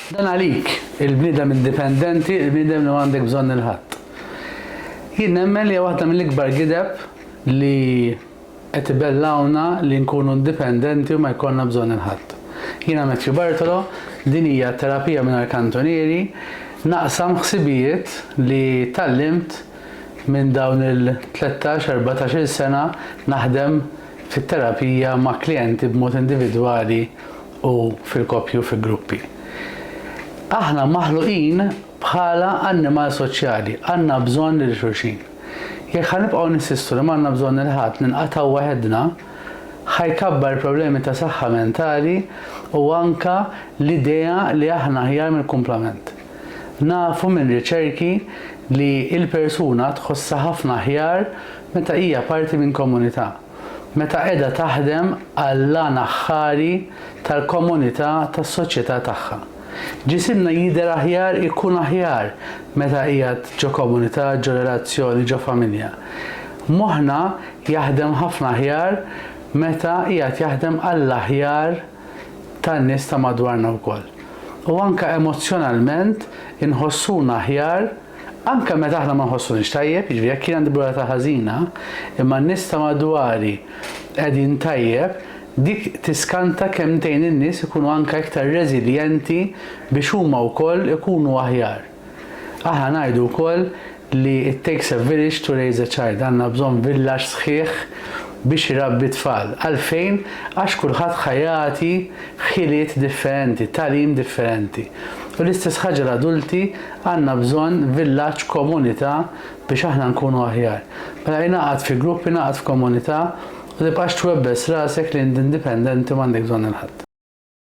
Dan għalik, il-bniedem indipendenti, il-bniedem li ma għandek bżonn il ħadd. Jien nemmen li waħda mill-ikbar gideb li qed ibellgħuna li nkunu indipendenti u ma jkollna bżonn il ħadd. Jiena Matthew Bartolo, din hija terapija mingħajr kantunieri, naqsam ħsibijiet li tgħallimt minn dawn il-13, 14 il sena naħdem fit-terapija ma' klijenti b'mod individwali u fil-koppji u fi gruppi. Aħna maħluqin bħala annimal soċjali, għandna bżonn lil xulxin. Jekk ħa nibqgħu ninsistu li m'għandna bżonn lil ħadd ninqatgħu waħedna, ħa jkabbar il-problemi ta' saħħa mentali u anke l-idea li aħna aħjar mill-kumplament. Nafu minn riċerki li l-persuna tħossha ħafna aħjar meta hija parti minn komunità. meta qiegħda taħdem għall-għan aħħari tal-komunità tas-soċjetà tagħha. Ġisimna jidher aħjar, ikun aħjar meta qiegħed ġo komunità, ġo relazzjoni, ġo familja. Moħħna jaħdem ħafna aħjar meta qiegħed jaħdem għall-aħjar tan-nies ta' madwarna wkoll. U anke emozzjonalment inħossuna aħjar, Anke meta aħna ma nħossuniex tajjeb, jiġifieri jekk jien għandi ġurnata ħażina, imma n-nies ta' madwari qegħdin tajjeb, dik tiskanta kemm tgħin in-nies ikunu anke iktar reżiljenti biex huma wkoll ikunu aħjar. Aħna ngħidu wkoll li it takes a village to raise a child, għandna bżonn villaġġ sħiħ biex irabbi t-tfal. Għalfejn? Għax kulħadd ħa jagħti ħiliet differenti, tagħlim differenti. U l-istess ħaġa l-adulti Għandna bżonn villaġġ, komunità biex aħna nkunu aħjar. Mela ingħaqad fi grupp, ingħaqad f'komunità u tibqax twebbes rasek li int indipendenti u m'għandek bżonn il-ħadd.